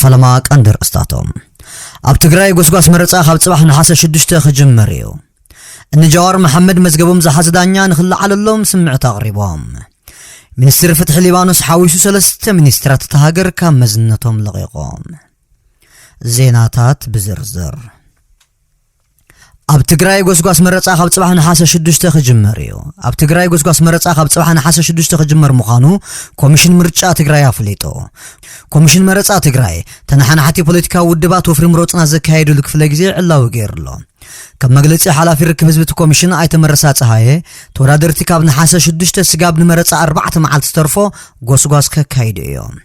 ፈለማ ቀንዲ ርእስታቶም ኣብ ትግራይ ጎስጓስ መረፃ ካብ ፅባሕ ነሓሰ ሽዱሽተ ክጅምር እዩ እኒ ጃዋር መሓመድ መዝገቦም ዝሓዘ ዳኛ ንክለዓለሎም ስምዕት ኣቕሪቦም ሚኒስትር ፍትሒ ሊባኖስ ሓዊሱ ሰለስተ ሚኒስትራት እታ ሃገር ካብ መዝነቶም ለቒቖም ዜናታት ብዝርዝር ኣብ ትግራይ ጎስጓስ መረፃ ካብ ፅባሕ ነሓሰ ሽዱሽተ ክጅመር እዩ ኣብ ትግራይ ጎስጓስ መረፃ ካብ ፅባሕ ነሓሰ ሽዱሽተ ክጅመር ምዃኑ ኮሚሽን ምርጫ ትግራይ ኣፍሊጡ ኮሚሽን መረፃ ትግራይ ተነሓናሕቲ ፖለቲካዊ ውድባት ወፍሪ ምሮፅና ዘካየድሉ ክፍለ ግዜ ዕላዊ ገይሩ ኣሎ ከም መግለፂ ሓላፊ ርክብ ህዝቢ እቲ ኮሚሽን ኣይተመረሳ ፀሃየ ተወዳደርቲ ካብ ነሓሰ ሽዱሽተ ስጋብ ንመረፃ ኣርባዕተ መዓልቲ ዝተርፎ ጎስጓስ ከካይዱ እዮም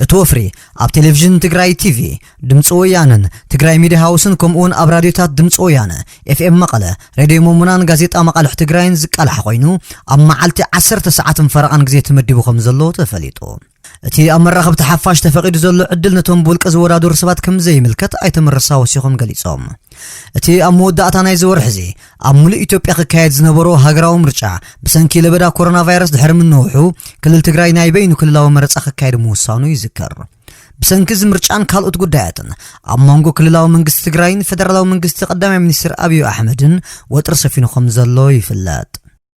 እቲ ወፍሪ ኣብ ቴሌቪዥን ትግራይ ቲቪ፣ ድምፂ ወያነን ትግራይ ሚድያ ሃውስን ከምኡ እውን ኣብ ራድዮታት ድምፂ ወያነ፣ ኤፍኤም መቐለ፣ ሬድዮ ሞሞናን ጋዜጣ መቓልሕ ትግራይን ዝቃላሕ ኮይኑ ኣብ መዓልቲ ዓሰርተ ሰዓትን ፈረቓን ግዜ ተመዲቡ ከምዘሎ ተፈሊጡ። እቲ ኣብ መራኸብቲ ሓፋሽ ተፈቒዱ ዘሎ ዕድል ነቶም ብውልቀ ዝወዳደሩ ሰባት ከምዘይምልከት ኣይተ መረሳ ወሲኾም ገሊፆም። እቲ ኣብ መወዳእታ ናይዚ ወርሒ እዚ ኣብ ሙሉእ ኢትዮጵያ ክካየድ ዝነበሮ ሃገራዊ ምርጫ ብሰንኪ ለበዳ ኮሮና ቫይረስ ድሕሪ ምንውሑ ክልል ትግራይ ናይ በይኑ ክልላዊ መረፃ ክካየድ ምውሳኑ ይዝከር። ብሰንኪ እዚ ምርጫን ካልኦት ጉዳያትን ኣብ መንጎ ክልላዊ መንግስቲ ትግራይን ፌደራላዊ መንግስቲ ቀዳማይ ሚኒስትር ኣብዩ ኣሕመድን ወጥሪ ሰፊኑ ከምዘሎ ይፍለጥ።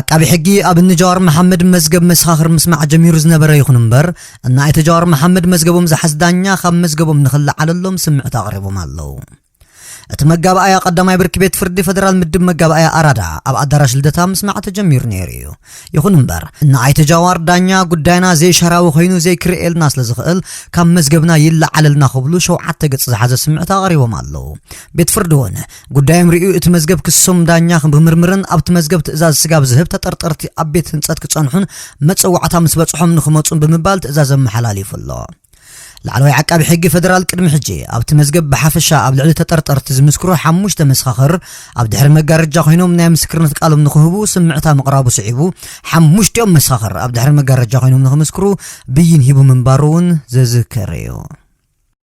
ዓቃቢ ሕጊ ኣብ ንጃዋር መሓመድ መዝገብ መሰኻኽር ምስማዕ ጀሚሩ ዝነበረ ይኹን እምበር እና ኣይተ ጃዋር መሓመድ መዝገቦም ዝሓዝ ዳኛ ካብ መዝገቦም ንኽለዓለሎም ስምዕት ኣቕሪቦም ኣለዉ። እቲ መጋባኣያ ቀዳማይ ብርኪ ቤት ፍርዲ ፈደራል ምድብ መጋባኣያ ኣራዳ ኣብ ኣዳራሽ ልደታ ምስማዕ ተጀሚሩ ነይሩ እዩ። ይኹን እምበር እና ኣይተ ጃዋር ዳኛ ጉዳይና ዘይሻራዊ ኮይኑ ዘይክርኤልና ስለ ዝኽእል ካብ መዝገብና ይለዓለልና ክብሉ ሸውዓተ ገጽ ዝሓዘ ስምዕት ኣቕሪቦም ኣለዉ። ቤት ፍርዲ እውን ጉዳዮም ርእዩ እቲ መዝገብ ክሶም ዳኛ ክምርምርን ኣብቲ መዝገብ ትእዛዝ ስጋብ ዝህብ ተጠርጠርቲ ኣብ ቤት ህንፀት ክፀንሑን መፀዋዕታ ምስ በፅሖም ንክመፁን ብምባል ትእዛዝ ኣመሓላሊፉ ኣሎ። ላዕለዋይ ዓቃቢ ሕጊ ፌደራል ቅድሚ ሕጂ ኣብቲ መዝገብ ብሓፈሻ ኣብ ልዕሊ ተጠርጠርቲ ዝምስክሩ ሓሙሽተ መሰኻኽር ኣብ ድሕሪ መጋረጃ ኮይኖም ናይ ምስክርነት ቃሎም ንክህቡ ስምዕታ ምቕራቡ ስዒቡ ሓሙሽቲኦም መሰኻኽር ኣብ ድሕሪ መጋረጃ ኮይኖም ንክምስክሩ ብይን ሂቡ ምንባሩ እውን ዝዝከር እዩ።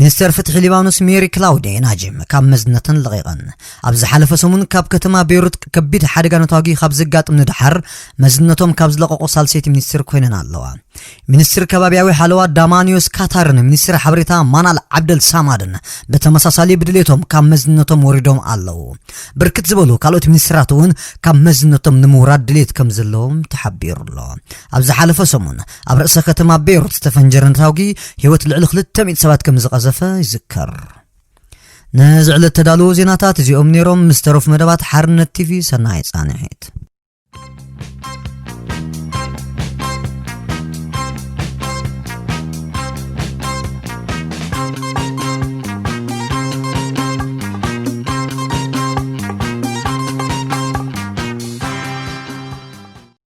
ሚኒስተር ፍትሒ ሊባኖስ ሜሪ ክላውዴ ናጅም ካብ መዝነተን ለቒቐን ኣብ ዝሓለፈ ሰሙን ካብ ከተማ ቤይሩት ከቢድ ሓደጋ ነታጒ ካብ ዘጋጥም ንድሓር መዝነቶም ካብ ዝለቐቑ ሳልሰይቲ ሚኒስትር ኮይነን ኣለዋ ሚኒስትር ከባቢያዊ ሓለዋ ዳማኒዮስ ካታርን ሚኒስትር ሓበሬታ ማናል ዓብደል ሳማድን ብተመሳሳሊ ብድሌቶም ካብ መዝነቶም ወሪዶም ኣለዉ ብርክት ዝበሉ ካልኦት ሚኒስትራት እውን ካብ መዝነቶም ንምውራድ ድሌት ከም ዘለዎም ተሓቢሩ ኣሎ ኣብ ዝሓለፈ ሰሙን ኣብ ርእሰ ከተማ ቤይሩት ዝተፈንጀረ ነታውጊ ህይወት ልዕሊ 200 ሰባት ከም ዝቐዘፈ ይዝከር ነዚ ዕለት ተዳለዉ ዜናታት እዚኦም ነይሮም ምስ ተረፉ መደባት ሓርነት ቲቪ ሰናይ ጻንሒት